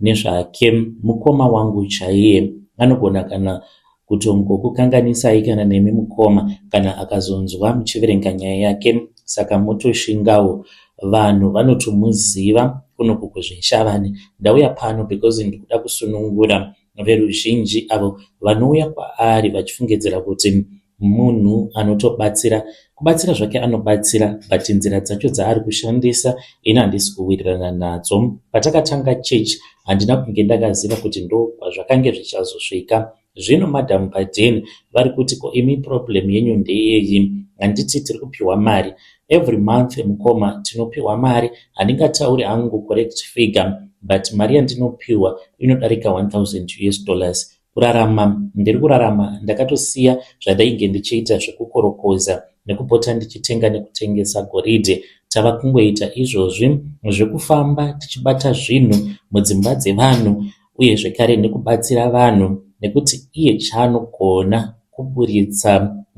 Nezvake mukoma wangu chaiye anogona kana kutongokukanganisai kana nemi mukoma kana akazonzwa muchiverenga nyaya yake saka motoshingawo vanhu vanotomuziva kuno kuko zveShavane. Ndauya pano because ndikuda kusunungura veruzhinji avo vanouya kwaari vachifungidzira kuti Munhu anotobatsira kubatsira zvake anobatsira but nzira dzacho dzaari kushandisa ini handisi kuwirirana nadzo. Patakatanga church handina kunge ndakaziva kuti ndokwazvakange zvichazosvika. Zvino madam paden vari kuti ko imi problem yenyu ndeyeyi handiti tiri kupiwa mari every month mukoma tinopiwa mari handingatauri hangu correct figure but mari yandinopiwa inodarika 1000 us dollars Kurarama ndiri kurarama ndakatosiya zvandainge ndichiita zvekukorokoza nekupota ndichitenga nekutengesa goridhe. Tava kungoita izvozvi zvekufamba tichibata zvinhu mudzimba dzevanhu uye zvekare nekubatsira vanhu nekuti iye chaanogona kuburitsa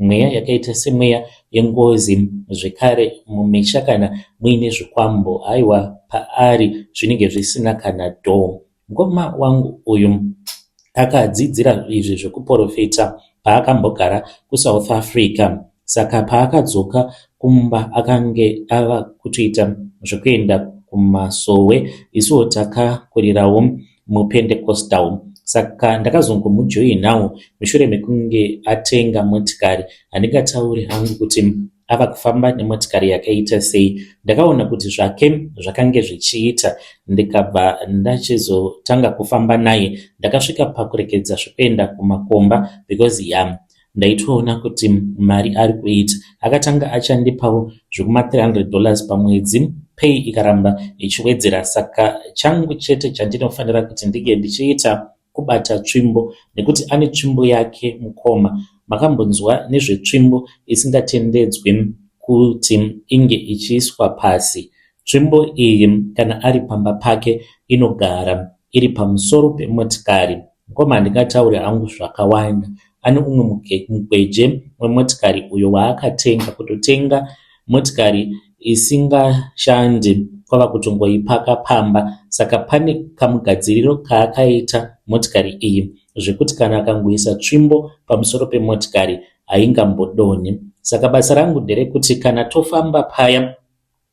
mweya yakaita semweya yengozi zvekare mumisha kana muine zvikwambo haiwa paari zvinenge zvisina kana dho Mkoma wangu uyu akadzidzira izvi zvekuporofita paakambogara kuSouth Africa saka paakadzoka kumba akange ava kutoita zvekuenda kumasowe isuwo takakurirawo mupendecostal saka ndakazongomujoinawo mushure mekunge atenga motikari handingatauri hangu kuti ava kufamba nemotikari yakaita sei ndakaona kuti zvake zvakange zvichiita ndikabva ndachizotanga kufamba naye ndakasvika pakurekedza zvekuenda kumakomba because ya ndaitoona kuti mari ari kuita akatanga achandipawo zvekuma 300 dollars pamwedzi pay ikaramba ichiwedzera saka changu chete chandinofanira kuti ndinge ndichiita kubata tsvimbo nekuti ane tsvimbo yake mukoma makambonzwa nezvetsvimbo isingatendedzwi kuti inge ichiiswa pasi tsvimbo iyi kana ari pamba pake inogara iri pamusoro pemotikari mukoma handingataure hangu zvakawanda ane umwe mukweje wemotikari uyo waakatenga kutotenga motikari isingashandi kwava kutongoipaka pamba saka pane kamugadziriro kaakaita motikari iyi zvekuti kana akangoisa tsvimbo pamusoro pemotikari haingambodonhi saka basa rangu nderekuti kana tofamba paya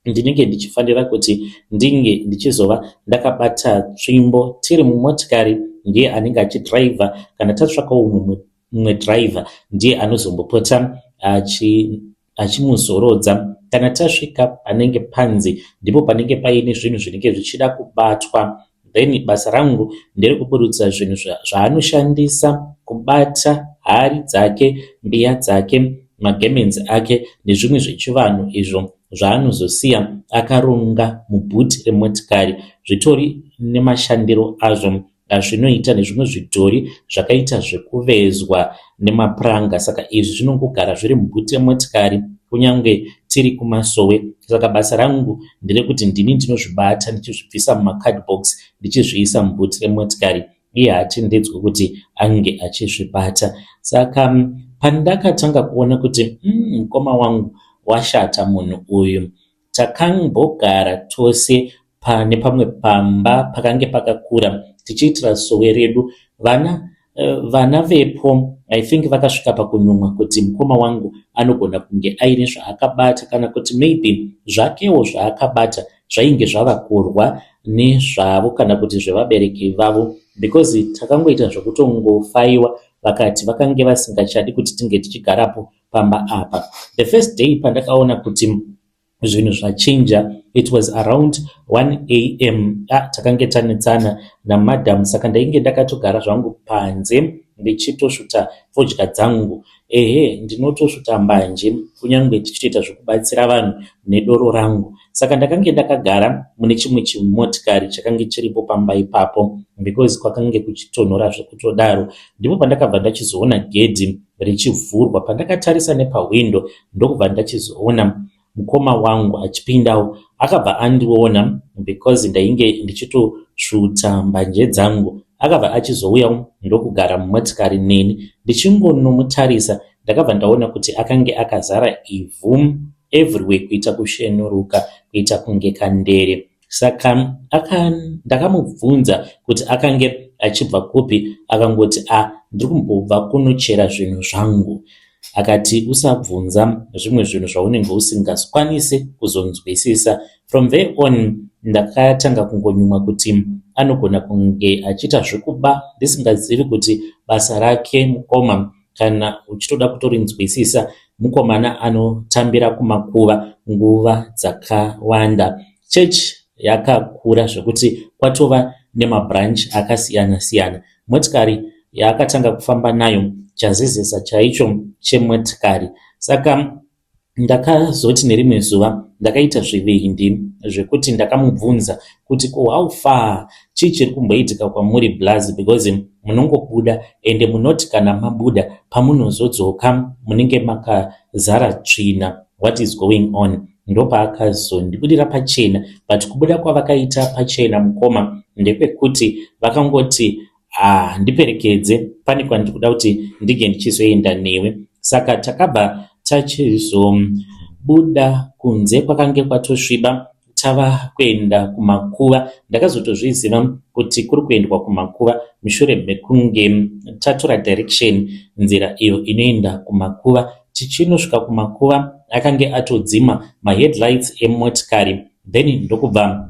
ndinenge ndichifanira kuti ndinge ndichizova ndakabata tsvimbo tiri mumotikari ndiye anenge achidhiraivha kana tatsvakawo mumwe mumwe driver ndiye anozombopota achi achimuzorodza kana tasvika panenge panzi ndipo panenge paine zvinhu zvinenge zvichida kubatwa then basa rangu nderekuburutsa zvinhu zvaanoshandisa kubata hari dzake mbiya dzake magemenzi ake nezvimwe zvechivanhu izvo zvaanozosiya akaronga mubhuti remotikari zvitori nemashandiro azvo zvinoita nezvimwe zvidhori zvakaita zvekuvezwa nemapuranga saka izvi zvinongogara zviri mubhuti yemotikari kunyange tiri kumasowe saka basa rangu nderekuti ndini ndinozvibata ndichizvibvisa mumacardbox ndichizviisa mubhuti remotikari iye haatendedzwe kuti ange achizvibata saka pandakatanga kuona kuti mm, mukoma mm, wangu washata munhu uyu Takambogara tose pane pamwe pamba pakange pakakura tichiitira sowe redu. Vana vana vepo I think vakasvika pakunyumwa kuti mukoma wangu anogona kunge aine zvaakabata kana kuti maybe zvakewo zvaakabata zvainge zvava kurwa nezvavo kana kuti zvevabereki vavo because takangoita zvekutongofaiwa vakati vakange vasingachadi kuti tinge tichigarapo pamba apa. The first day pandakaona kuti zvinhu zvachinja it was around 1 am ah, takange tanetsana namadam saka ndainge ndakatogara zvangu panze ndichitosvuta fodya dzangu ehe ndinotosvuta mbanje kunyange tichitoita zvekubatsira vanhu nedoro rangu saka ndakange ndakagara mune chimwe chimotikari chakange chiripo pamba ipapo because kwakange kuchitonhora zvekutodaro ndipo pandakabva ndachizoona gedhi richivhurwa pandakatarisa nepahwindo ndokubva ndachizoona mukoma wangu achipindawo akabva andiona because ndainge ndichitosvuta mbanje dzangu akabva achizouyawo ndokugara mumotikari neni ndichingonomutarisa ndakabva ndaona kuti akange akazara ivhu everywhere kuita kushenuruka kuita kunge kandere Saka aka ndakamubvunza kuti akange achibva kupi akangoti a ah, ndiri kumbobva kunochera zvinhu zvangu akati usabvunza zvimwe zvinhu zvaunenge usingakwanise kuzonzwisisa from there on ndakatanga kungonyumwa kuti anogona kunge achiita zvekuba ndisingazivi kuti basa rake mukoma Kana uchitoda kutorinzwisisa, mukomana anotambira kumakuva nguva dzakawanda. Church yakakura zvekuti kwatova nemabranch akasiyana siyana. Motikari yaakatanga kufamba nayo chazezesa chaicho chemotikari. Saka Ndakazoti nerimwe zuva ndakaita zvivindi zvekuti ndakamubvunza kuti ko how far chii chiri kumboitika kwamuri blaz because munongobuda ende munoti kana mabuda pamunozodzoka munenge makazara tsvina what is going on ndopaakazondibudira pachena but kubuda kwavakaita pachena mukoma ndekwekuti vakangoti Haa ndiperekedze pane kwandiri kuda kuti ndinge ndichizoenda newe. Saka takabva tachizobuda kunze kwakange kwatosviba tava kuenda kumakuva. Ndakazotozviziva kuti kuri kuendwa kumakuva mushure mekunge tatora direction nzira iyo inoenda kumakuva. Tichinosvika kumakuva akange atodzima maheadlights emotikari then ndokubva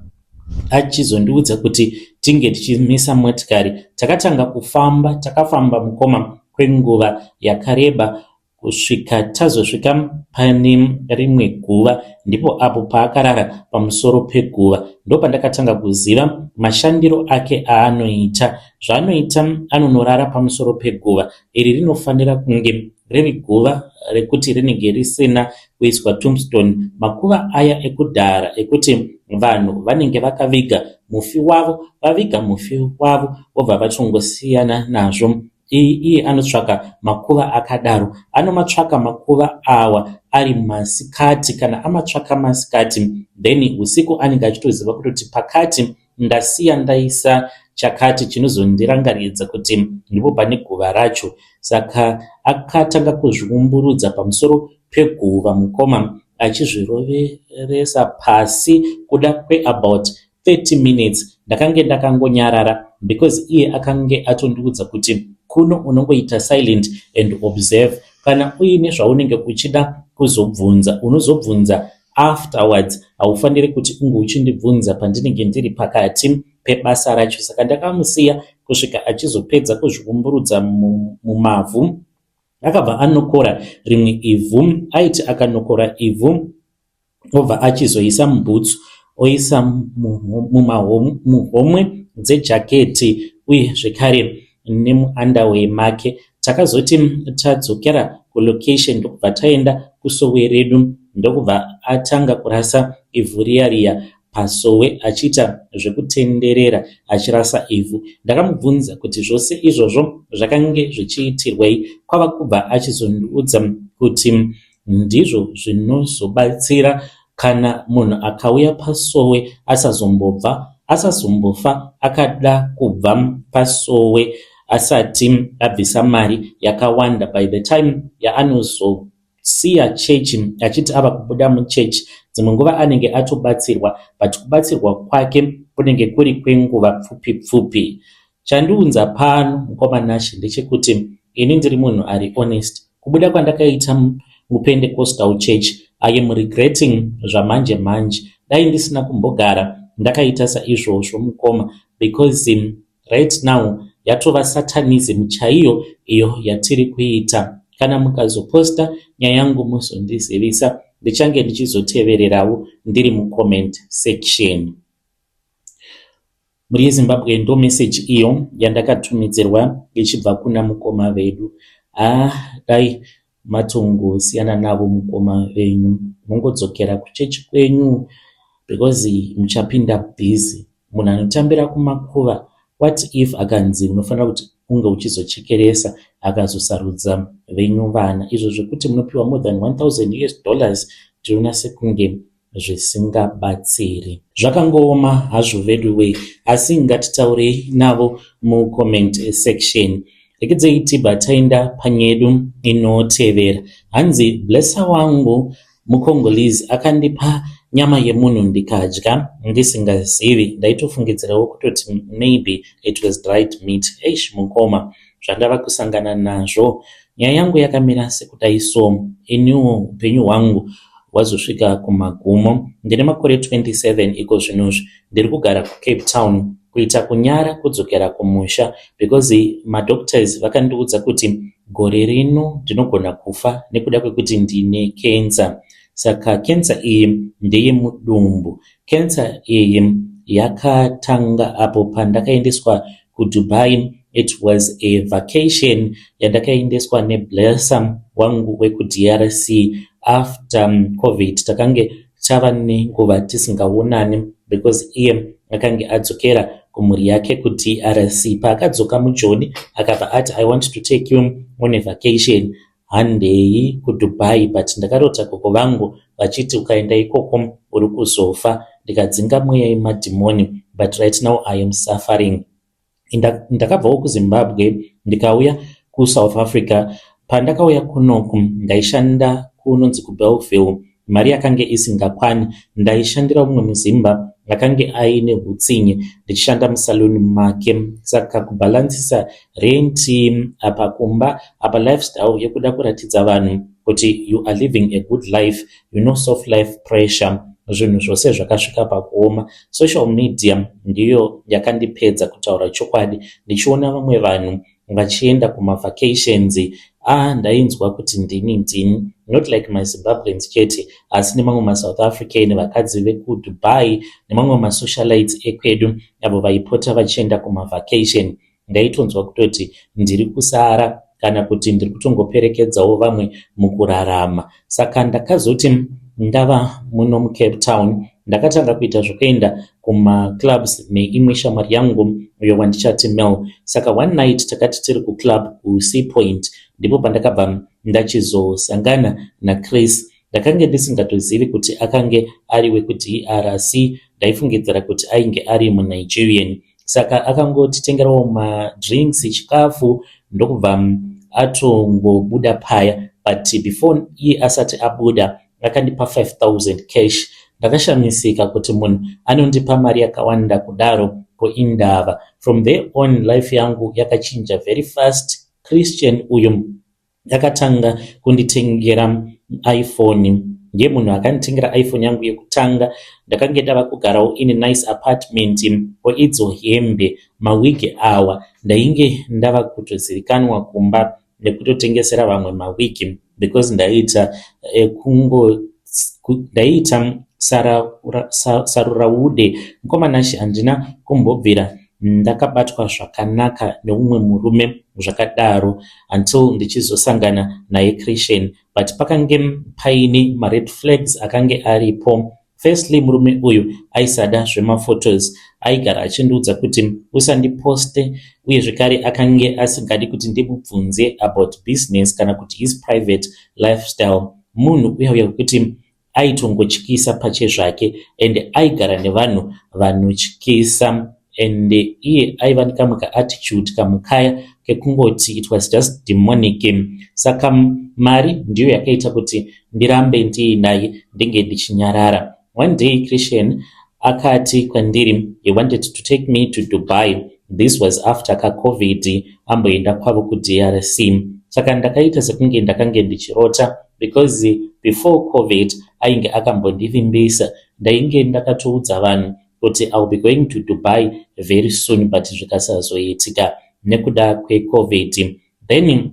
achizondiudza kuti tinge tichimisa motikari takatanga kufamba takafamba mukoma kwenguva yakareba kusvika tazosvika pane rimwe guva ndipo apo paakarara pamusoro peguva ndopandakatanga kuziva mashandiro ake aanoita zvaanoita anonorara pamusoro peguva iri rinofanira kunge riri guva rekuti rinenge risina kuiswa tombstone makuva aya ekudhara ekuti vanhu vanenge vakaviga mufi wavo vaviga mufi wavo vobva vachongosiyana nazvo iyi iye anotsvaka makuva akadaro anomatsvaka makuva awa ari masikati kana amatsvaka masikati then usiku anenge achitoziva kutoti pakati ndasiya ndaisa chakati chinozondirangaridza kuti ndipo pane guva racho. Saka akatanga kuzviumburudza pamusoro peguva mukoma achizviroveresa pasi kuda kweabout 30 minutes ndakange ndakangonyarara because iye akange atondiudza kuti kuno unongoita silent and observe kana uine zvaunenge uchida kuzobvunza unozobvunza Afterwards haufanire kuti unge uchindibvunza pandinenge ndiri pakati pebasa racho saka ndakamusiya kusvika achizopedza kuzviumburudza mumavhu akabva anokora rimwe ivhu aiti akanokora ivhu obva achizoisa mubhutsu oisa muhomwe dzejaketi uye zvekare nemuunderwear make. Takazoti tadzokera kulocation ndokubva taenda kusowe redu ndokubva atanga kurasa ivhu riya riya pasowe achiita zvekutenderera achirasa ivhu. Ndakamubvunza kuti zvose izvozvo zvakange zvichiitirwei kwava kubva achizondiudza kuti ndizvo zvinozobatsira kana munhu akauya pasowe asazombobva asazombofa akada kubva pasowe asati abvisa mari yakawanda by the time yaanozo siya chechi achiti ava kubuda muchechi dzimwe nguva anenge atobatsirwa but kubatsirwa kwake kunenge kuri kwenguva pfupi pfupi Chandiunza pano mukoma Nashy ndechekuti ini ndiri munhu ari honest. Kubuda kwandakaita muPentecostal church I am regretting zvamanje manje. Dai ndisina kumbogara ndakaita saizvozvo mukoma because right now yatova satanism chaiyo iyo yatiri kuita. Kana mukazoposta nyaya yangu muzondizivisa ndichange ndichizotevererawo ndiri mucomment section. Mhuri yeZimbabwe ndo message iyo yandakatumidzirwa ichibva kuna mukoma vedu haa dai matongosiyana navo mukoma venyu mongodzokera kuchechi kwenyu because muchapinda busy munhu anotambira kumakuva what if akanzi unofanira kuti unge uchizochekeresa akazosarudza venyu vana izvo zvekuti munopiwa more than 1000 us dollars tinoona sekunge zvisingabatsiri. Zvakangooma hazvo veduwee asi ngatitaurei navo mucomment section. Rekedzeyi tibva taenda panyedu inotevera. Hanzi blesser wangu mucongolese akandipa nyama yemunhu ndikadya ndisingazivi ndaitofungidzirawo kutoti maybe it was dried meat eish mukoma zvandava kusangana nazvo nyaya yangu yakamira sekudai so iniwo upenyu hwangu hwazosvika kumagumo ndine makore 27 iko zvinozvi ndiri kugara kucape town kuita kunyara kudzokera kumusha because madoctors vakandiudza kuti gore rino ndinogona kufa nekuda kwekuti ndine kensa saka kensa iyi ndeyemudumbu kensa iyi yakatanga apo pandakaendeswa KuDubai it was a vacation yandakaendeswa neBlesser wangu wekuDRC. After Covid takange tava nenguva tisingaonani because iye akange adzokera kumhuri yake kuDRC. Paakadzoka muJoni akabva ati I want to take you on a vacation. Handei kuDubai but ndakarota gogo vangu vachiti ukaenda ikoko uri kuzofa ndikadzinga mweya yemadhimoni but right now I am suffering. Ndakabvawo kuZimbabwe ndikauya kuSouth Africa. Pandakauya kunoku ndaishanda kunonzi kuBellville Mari yakange isingakwani. Ndaishandira umwe muZimba akange aine hutsinye ndichishanda musaluni make saka kubhalansisa renti apa kumba apa lifestyle yekuda kuratidza vanhu kuti you are living a good life you know soft life pressure zvinhu zvose zvakasvika pakuoma social media ndiyo yakandipedza kutaura chokwadi ndichiona vamwe vanhu vachienda kuma vacations aah ndainzwa kuti ndini ndini not like ma Zimbabweans chete asi nemamwe ma South African vakadzi veku Dubai nemamwe ma socialites ekwedu avo vaipota vachienda kuma vacation ndaitonzwa kutoti ndiri kusara kana kuti ndiri kutongoperekedzawo vamwe mukurarama Saka ndakazoti ndava muno muCape Town ndakatanga kuita zvekuenda kumaclubs neimwe shamwari yangu uyo wandichati Mel. Saka one night takati tiri kuclub kuSea Point ndipo pandakabva ndachizosangana naChris ndakange ndisingatozivi kuti akange ari wekudrc ndaifungidzira kuti ainge ari munigerian saka akangotitengerawo madrinks chikafu ndokubva atongobuda paya but before iye asati abuda akandipa 5000 cash ndakashamisika kuti munhu anondipa mari yakawanda kudaro ko indava from there on life yangu yakachinja very fast christian uyu Ndakatanga kunditengera iPhone ndiye munhu akanditengera iPhone yangu yekutanga ndakange ndava kugarawo in nice apartment ko idzo hembe mawigi awa ndainge ndava kutozivikanwa kumba nekutotengesera vamwe mawigi because ndaiita eh, kungo ndaiita saruraude mukomana shi handina kumbobvira Ndakabatwa zvakanaka neumwe murume zvakadaro until ndichizosangana naye Christian but pakange paine mared flags akange aripo. Firstly murume uyu aisada zvemaphotos, aigara achindiudza kuti usandiposte uye zvekare akange asingadi kuti ndimubvunze about business kana kuti his private lifestyle. Munhu uyauya wekuti aitongotyisa pachezvake and aigara nevanhu vanotyisa and iye aiva nekamwe kaattitude kamukaya kekungoti it was just demonic saka mari ndiyo yakaita kuti ndirambe ndiinaye ndenge ndichinyarara one day christian Akati kwandiri he wanted to take me to Dubai this was after ka covid amboenda kwavo kuDRC saka ndakaita sekunge ndakange ndichirota because before covid ainge akambondivimbisa ndainge ndakatoudza vanhu kuti iwill be going to Dubai very soon but zvikasazoitika nekuda kwecovid then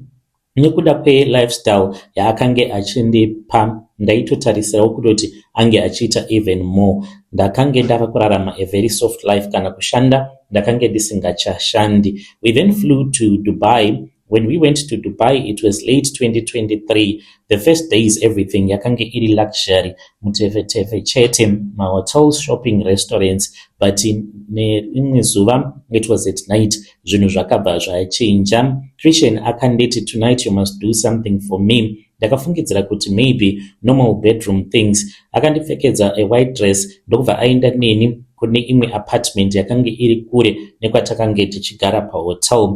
nekuda kwelifestyle yaakange achindipa ndaitotarisirawo kutoti ange achiita even more ndakange ndava kurarama a very soft life kana kushanda ndakange ndisingachashandi we then flew to dubai when we went to dubai it was late 2023 the first days everything yakange iri luxury mutefetefe chete mahotels shopping restaurants but nerimwe zuva it was at night zvinhu zvakabva zvachinja christian akanditi tonight you must do something for me ndakafungidzira kuti maybe normal bedroom things akandipfekedza a white dress ndokubva aenda neni kune imwe apartment yakange iri kure nekwatakange tichigara pahotel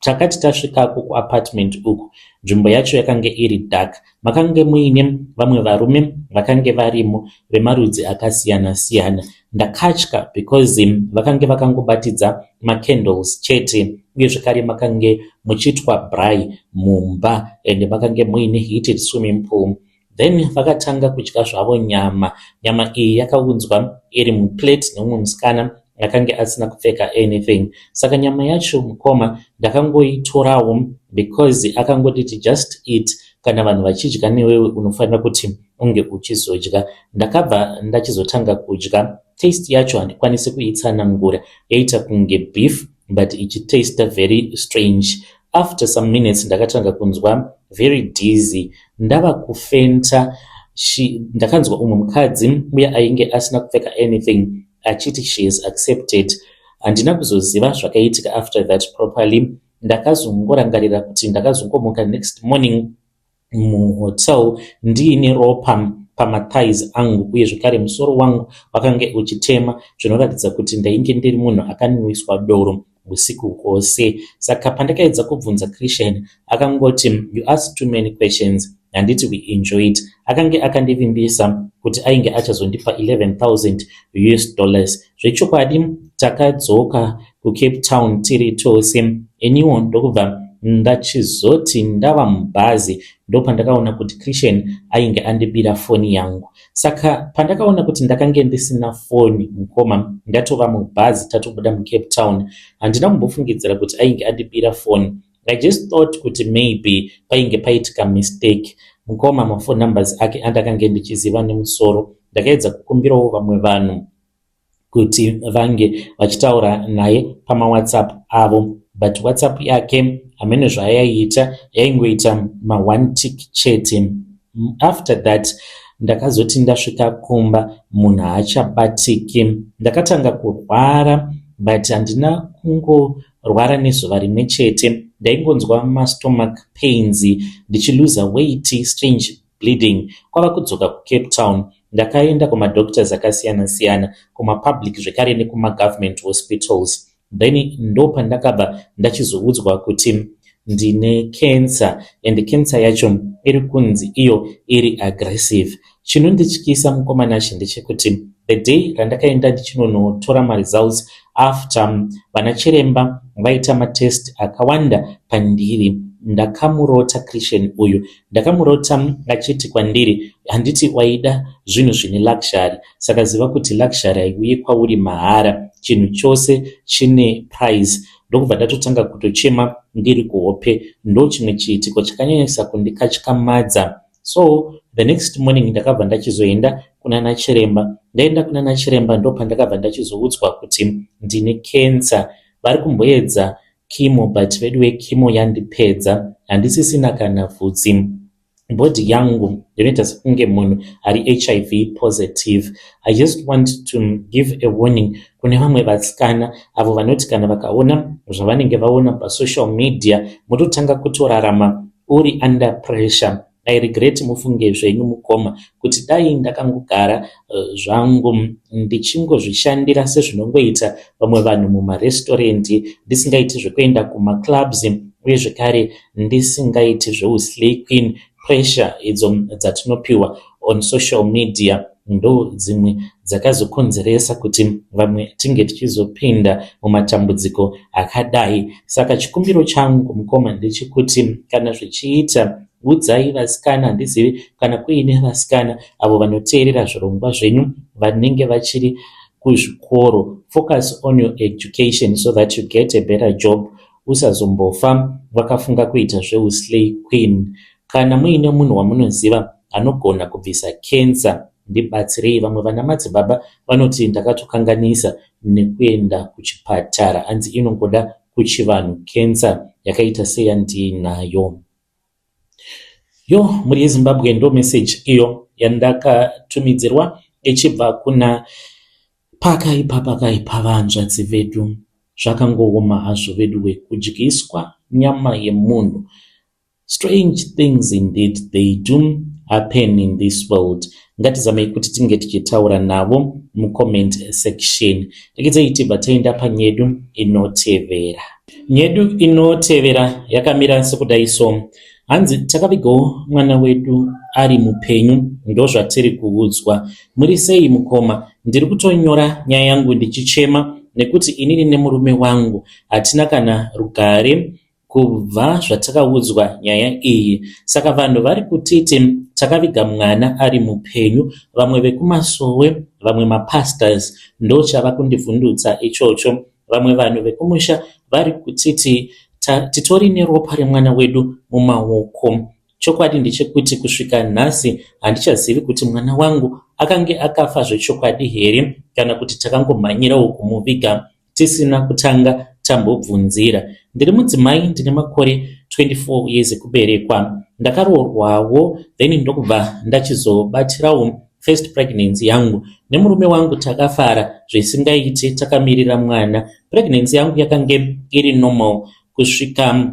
takati tasvikako kuapartment uku nzvimbo yacho yakange iri dark Makange muine vamwe varume vakange varimo vemarudzi akasiyana siyana. Ndakatya because vakange vakangobatidza macandles chete uye zvekare makange muchiitwa bry mumba and makange muine heated swimming pool then vakatanga kudya zvavo nyama nyama iyi yakaunzwa iri muplate neumwe musikana akange asina kupfeka anything saka nyama yacho mukoma ndakangoitorawo because akangotiti just eat kana vanhu vachidya newewe unofanira kuti unge uchizodya ndakabva ndachizotanga kudya taste yacho handikwanisi kuitsanangura yaita kunge beef but ichitasta very strange after some minutes ndakatanga kunzwa very dizzy ndava kufenta ndakanzwa umwe mukadzi uye ainge asina kupfeka anything achiti she has accepted handina kuzoziva zvakaitika after that properly ndakazongorangarira kuti ndakazongomuka next morning muhotel ndiine ropa pamathais angu uye zvekare musoro wangu wakange uchitema zvinoratidza kuti ndainge ndiri munhu akanwiswa doro usiku hwose saka pandakaedza kubvunza Christian akangoti you ask too many questions handiti we enjoy it akange akandivimbisa kuti ainge achazondipa 11000 us dollars zvechokwadi takadzoka kucape town tiri tose iniwo ndokubva ndachizoti ndava mubhazi ndopandakaona kuti christian ainge andibira foni yangu Saka pandakaona kuti ndakange ndisina foni mukoma ndatova mubhazi tatobuda mucape town handina kumbofungidzira kuti ainge andibira foni i just thought kuti maybe painge paitika mistake mukoma mafone numbers ake andakange ndichiziva nemusoro ndakaedza kukumbirawo vamwe vanhu kuti vange vachitaura naye pamawhatsapp avo but whatsapp yake hamene zvaayaiita yaingoita maone tik chete after that ndakazoti ndasvika kumba munhu haachabatiki ndakatanga kurwara but handina kungorwara nezuva rimwe chete ndaingonzwa mastomac pains ndichiluza weight strange bleeding kwava kudzoka kucape town ndakaenda kumadoctors akasiyana siyana kumapublic zvekare nekumagovernment hospitals then ndopandakabva ndachizoudzwa kuti ndine cancer and cancer yacho iri kunzi iyo iri aggressive chinondityisa mukomana chi ndechekuti the day randakaenda ndichinonotora maresults after vana chiremba vaita matest akawanda pandiri ndakamurota christian uyu Ndakamurota achiti kwandiri handiti waida zvinhu zvine luxury saka ziva kuti luxury haiuye kwauri mahara chinhu chose chine price ndokubva ndatotanga kutochema ndiri kuhope ndo chimwe chiitiko chakanyanyisa kundikatyamadza so the next morning ndakabva ndachizoenda kunana chiremba ndaenda kunana chiremba ndopandakabva ndachizoudzwa kuti ndine cancer vari kumboedza Chemo but veduwe chemo yandipedza handisisina kana vhudzi. Body yangu ndinoita sekunge munhu ari hiv positive. I just want to give a warning kune vamwe vasikana avo vanoti kana vakaona zvavanenge vaona pasocial media mototanga kutorarama uri under pressure. I regret mufunge zvenyu mukoma kuti dai ndakangogara zvangu ndichingozvishandira sezvinongoita vamwe vanhu mumarestaurant ndisingaiti zvekuenda kumaclubs uye zvekare ndisingaiti zveuslay queen pressure idzo dzatinopiwa on social media. ndodzimwe dzakazokonzeresa kuti vamwe tinge tichizopinda mumatambudziko akadai saka chikumbiro changu mukoma ndechekuti kana zvichiita udzai vasikana handizivi kana kuine vasikana avo vanoteerera zvirongwa zvenyu vanenge vachiri kuzvikoro focus on your education so that you get a better job usazombofa vakafunga kuita zveuslay queen Kana muine munhu wamunoziva anogona kubvisa cancer ndibatsirei vamwe vana madzibaba vanoti ndakatokanganisa nekuenda kuchipatara hanzi inongoda kuchivanhu cancer yakaita seyandiinayo yo mhuri yezimbabwe ndo message iyo yandakatumidzirwa ichibva kuna pakaipa pakaipa vanzvadzi vedu zvakangooma hazvo veduwe kudyiswa nyama yemunhu Strange things indeed they do happen in this world. Ngatizamei kuti tinge tichitaura navo mucomment section. Rekedzeyi tibva taenda panyedu inotevera. Nyedu inotevera yakamira sekudai so. Hanzi takavigawo mwana wedu ari mupenyu ndozvatiri kuudzwa. Muri sei mukoma? Ndiri kutonyora nyaya yangu ndichichema nekuti inini nemurume wangu hatina kana rugare Kubva zvatakaudzwa nyaya iyi saka vanhu vari kutiti takaviga mwana ari mupenyu vamwe vekumasowe vamwe mapastors ndochava kundivhundutsa ichocho vamwe vanhu vekumusha vari kutiti titori neropa remwana wedu mumaoko chokwadi ndechekuti kusvika nhasi handichazivi kuti mwana wangu akange akafa zvechokwadi here kana kuti takangomhanyirawo kumuviga tisina kutanga tambobvunzira. Ndiri mudzimai ndine makore 24 years ekuberekwa. Ndakaroorwawo then ndokubva ndachizobatirawo first pregnancy yangu nemurume wangu takafara zvisingaiti takamirira mwana. Pregnancy yangu yakange iri normal kusvika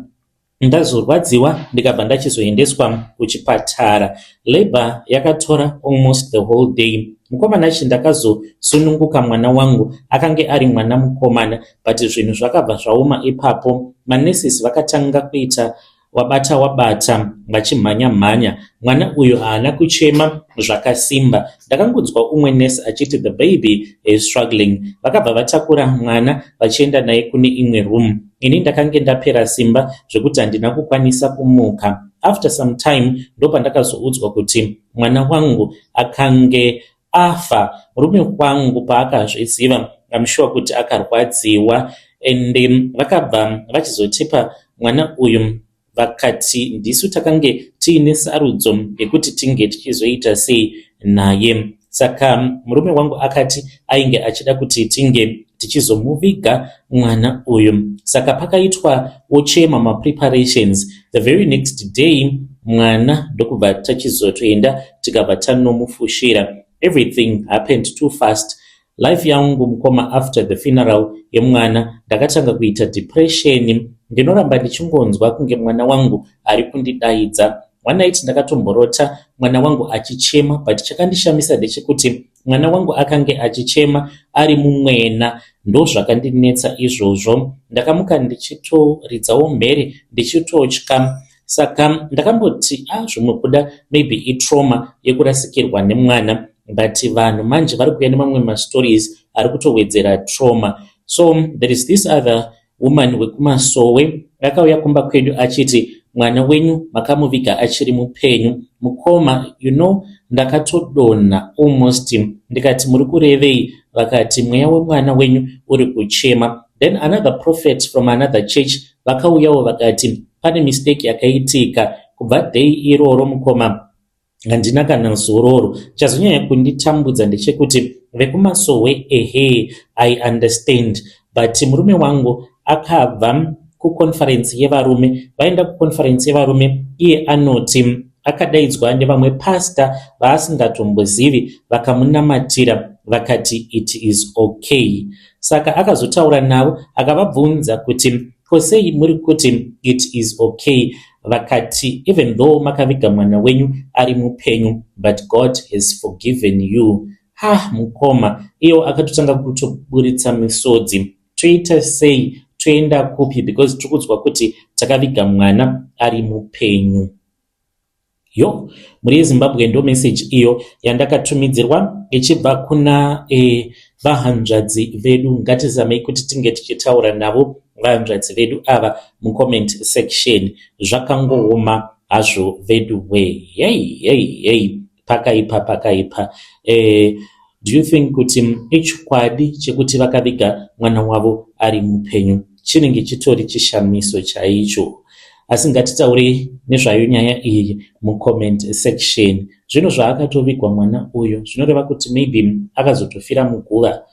Ndazorwadziwa ndikabva ndachizoendeswa kuchipatara. Labour yakatora almost the whole day. Mukomana chi ndakazosununguka mwana wangu akange ari mwana mukomana but zvinhu zvakabva zvaoma ipapo. Manurses vakatanga kuita wabata wabata vachimhanya mhanya mwana uyu haana kuchema zvakasimba ndakangonzwa umwe nurse achiti the baby is struggling vakabva vatakura mwana vachienda naye kune imwe room Ini ndakange ndapera simba zvekuti handina kukwanisa kumuka. After some time ndopandakazoudzwa kuti mwana wangu akange afa. Murume wangu paakazviziva I'm sure kuti akarwadziwa and vakabva vachizotipa mwana uyu vakati ndisu takange tiine sarudzo yekuti tinge tichizoita sei naye saka murume wangu akati ainge achida kuti tinge tichizomuviga mwana uyu saka pakaitwa wochema mapreparations the very next day mwana ndokubva tachizotoenda tikabva tanomufushira everything happened too fast Life yangu mukoma after the funeral yemwana ndakatanga kuita depression ndinoramba ndichingonzwa kunge mwana wangu ari kundidaidza one night ndakatomborota mwana wangu achichema but chakandishamisa ndechekuti mwana wangu akange achichema ari mumwena ndozvakandinetsa izvozvo ndakamuka ndichitoridzawo mhere ndichitotya saka ndakamboti a ah, zvinobuda maybe itrauma yekurasikirwa nemwana but vanhu manje vari kuuya nemamwe mastories ari kutowedzera trauma so there is this other woman wekumasowe akauya kumba kwedu achiti mwana wenyu makamuviga achiri mupenyu mukoma you know ndakatodonha almost ndikati muri kurevei vakati mweya wemwana wenyu uri kuchema then another prophet from another church Vakauyawo vakati, Pane mistake yakaitika. Kubva day iroro mukoma handina kana zororo. Chazonyanya kunditambudza ndechekuti vekumasowe ehe I understand but murume wangu akabva kuconference yevarume vaenda kuconference yevarume iye anoti akadaidzwa nevamwe pasta vaasingatombozivi vakamunamatira vakati it is okay Saka akazotaura navo akavabvunza kuti ko sei muri kuti it is okay vakati even though makaviga mwana wenyu ari mupenyu but God has forgiven you. Ha mukoma iyo akatotanga kutoburitsa misodzi toita sei toenda kupi because tiri kudzwa kuti takaviga mwana ari mupenyu. Yo, mhuri yeZimbabwe ndo message iyo yandakatumidzirwa ichibva kuna e, vahanzvadzi vedu. Ngatizamei kuti tinge tichitaura navo vahanzvadzi vedu ava mucomment section. Zvakangooma hazvo vedu we. Hey, hey, hey. Pakaipa, pakaipa. E, do you think kuti ichokwadi chekuti vakaviga mwana wavo ari mupenyu? chinenge chitori chishamiso chaicho asi ngatitaure nezvayo nyaya iyi mucomment section zvino zvaakatovigwa mwana uyo zvinoreva kuti maybe akazotofira muguva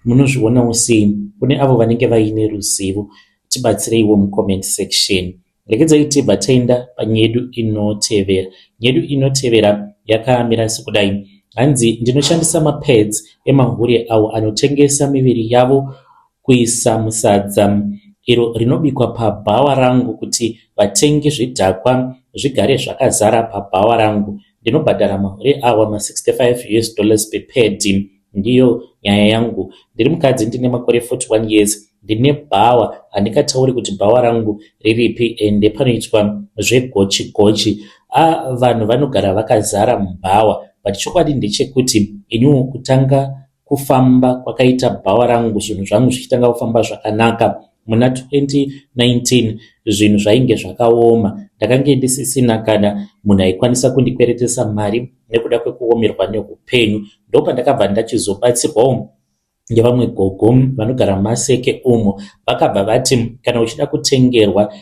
munozvionawo sei kune avo vanenge vaine ruzivo tibatsireiwo mucomment section Regedzai tibva taenda panyedu inotevera. Nyedu inotevera yakamira sekudai. Hanzi ndinoshandisa mapads emahure awo anotengesa miviri yavo kuisa musadza iro rinobikwa pabhawa rangu kuti vatengi zvidhakwa zvigare zvakazara pabhawa rangu. Ndinobhadhara mahure awa ma65 us dollars per pad. Ndiyo nyaya yangu. Ndiri mukadzi ndine makore 41 years. Ndine bhawa. Handingatauri kuti bhawa rangu riripi ende panoitwa zvegochi gochi. Ah vanhu vanogara vakazara mubhawa but chokwadi ndechekuti iniwo kutanga kufamba kwakaita bhawa rangu zvinhu zvangu zvichitanga kufamba zvakanaka. Muna 2019 zvinhu zvainge zvakaoma, ndakange ndisisina kana munhu aikwanisa kundikweretesa mari nekuda kwekuomerwa neupenyu. Ndopandakabva ndachizobatsirwawo nevamwe gogo vanogara maseke umo vakabva vati kana uchida kutengerwa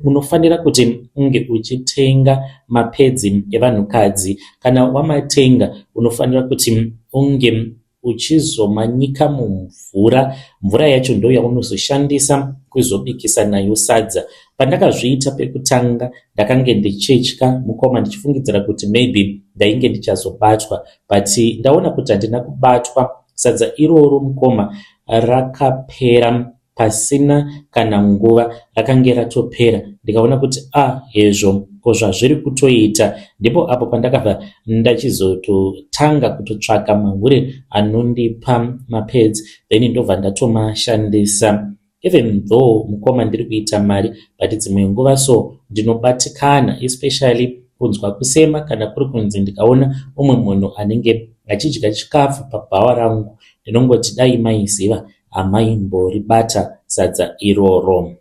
unofanira kuti unge uchitenga mapedzi evanhukadzi kana wamatenga unofanira kuti unge uchizomanyika mumvura, mvura yacho ndoyaunozoshandisa kuzobikisa nayo sadza. Pandakazviita pekutanga ndakange ndichitya mukoma ndichifungidzira kuti maybe ndainge ndichazobatwa but ndaona kuti handina kubatwa. Sadza iroro mukoma rakapera. Pasina kana nguva rakange ratopera ndikaona kuti ah hezvo ko zvazviri kutoita. Ndipo apo pandakabva ndachizototanga kutotsvaka mahure anondipa mapads then ndobva ndatomashandisa. Even though mukoma ndiri kuita mari but dzimwe nguva so ndinobatikana especially kunzwa kusema kana kuri kunzi ndikaona umwe munhu anenge achidya chikafu pabhawa rangu ndinongoti dai maiziva amaimboribata sadza iroro.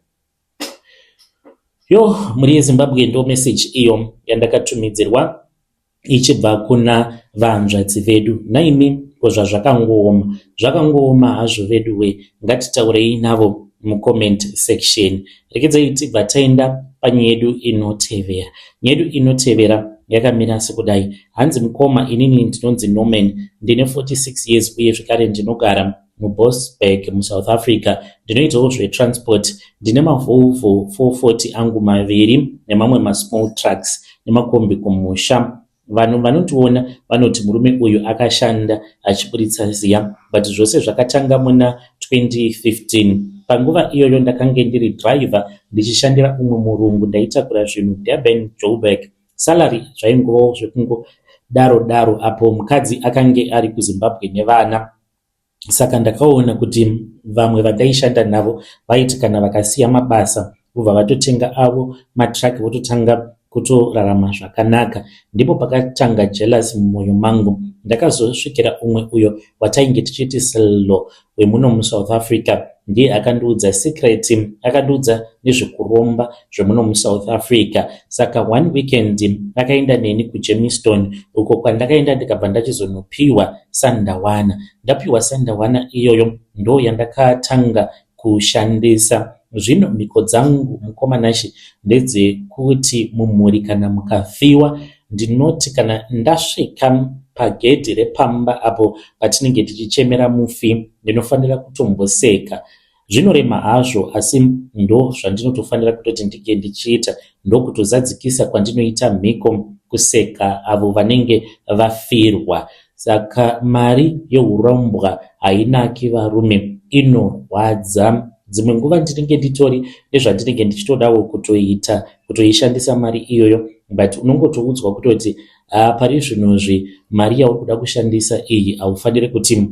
Yo mhuri yeZimbabwe ndo message iyo yandakatumidzirwa ichibva kuna vanzvadzi vedu naimi ko zvazvakangooma zvakangooma hazvo vedu we ngatitaurei navo mucomment section rekedzai tibva taenda panye yedu inotevera nyedu inotevera yakamira sekudai hanzi mukoma inini ndinonzi norman ndine 46 years uye zvekare ndinogara muBoksburg, muSouth Africa. Ndinoitawo zvetransport. Ndine maVolvo 440 angu maviri nemamwe masmall trucks nemakombi kumusha. Vanhu vanotiona vanoti murume uyu akashanda achiburitsa ziya but zvose zvakatanga muna 2015. Panguva iyoyo ndakange ndiri driver ndichishandira umwe murungu ndaitakura zvinhu Durban, Joburg. Salary zvaingovawo zvekungodaro daro apo mukadzi akange ari kuZimbabwe nevana. Saka ndakaona kuti vamwe vataishanda navo vaiti kana vakasiya mabasa vobva vatotenga avo matruck vototanga kutorarama zvakanaka. Ndipo pakatanga jealous mumwoyo mangu. Ndakazosvikira umwe uyo watainge tichiti Sello wemuno muSouth Africa. ndiye akandiudza secret akandiudza nezvekuromba zvemuno musouth africa saka one weekend akaenda neni kujemiston uko kwandakaenda ndikabva ndachizonopiwa sandawana ndapiwa sandawana iyoyo ndo yandakatanga kushandisa zvino mhiko dzangu mukomanashi ndedzekuti mumhuri kana mukafiwa Ndinoti kana ndasvika pagedhi repamba apo patinenge tichichemera mufi ndinofanira kutomboseka. Zvinorema hazvo asi ndo zvandinotofanira kutoti ndinge ndichiita ndokutozadzikisa kwandinoita mhiko kuseka avo vanenge vafirwa. Saka mari yehurombwa hainaki varume inorwadza. Dzimwe nguva ndinenge nditori nezvandinenge ndichitodawo kutoita kutoishandisa mari iyoyo but unongotoudzwa kutoti haa pari zvinozvi mari yauri kuda kushandisa iyi haufanire kuti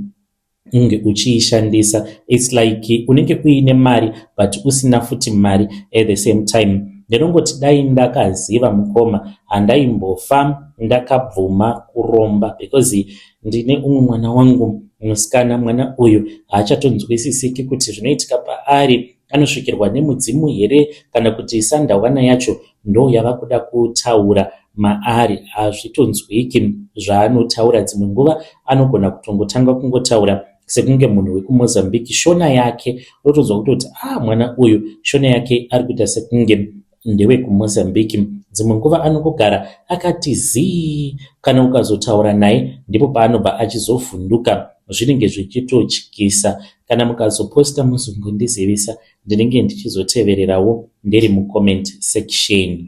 unge uchiishandisa its like unenge uine mari but usina futi mari at the same time ndinongoti dai ndakaziva mukoma handaimbofa ndakabvuma kuromba because ndine umwe mwana wangu musikana mwana uyu haachatonzwisisiki kuti zvinoitika paari anosvikirwa nemudzimu here kana kuti sandawana yacho ndo yava kuda kutaura maari hazvitonzwiki zvaanotaura dzimwe nguva anogona kutongotanga kungotaura sekunge munhu wekumozambique shona yake unotonzwa kutoti a ah, mwana uyu shona yake ari kuita sekunge ndewekumozambique dzimwe nguva anongogara akati zii kana ukazotaura naye ndipo paanobva achizovhunduka zvinenge zvichitotyisa kana mukazoposta muzungu ndizivisa ndinenge ndichizotevererawo ndiri mucomment section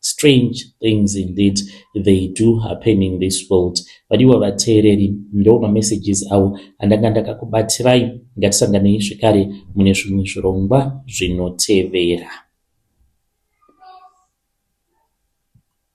Strange things indeed they do happen in this world. Vadiwa vateereri, ndo mamessages awo andanga ndakakubatirai. Ngatisanganei zvekare mune zvimwe zvirongwa zvinotevera.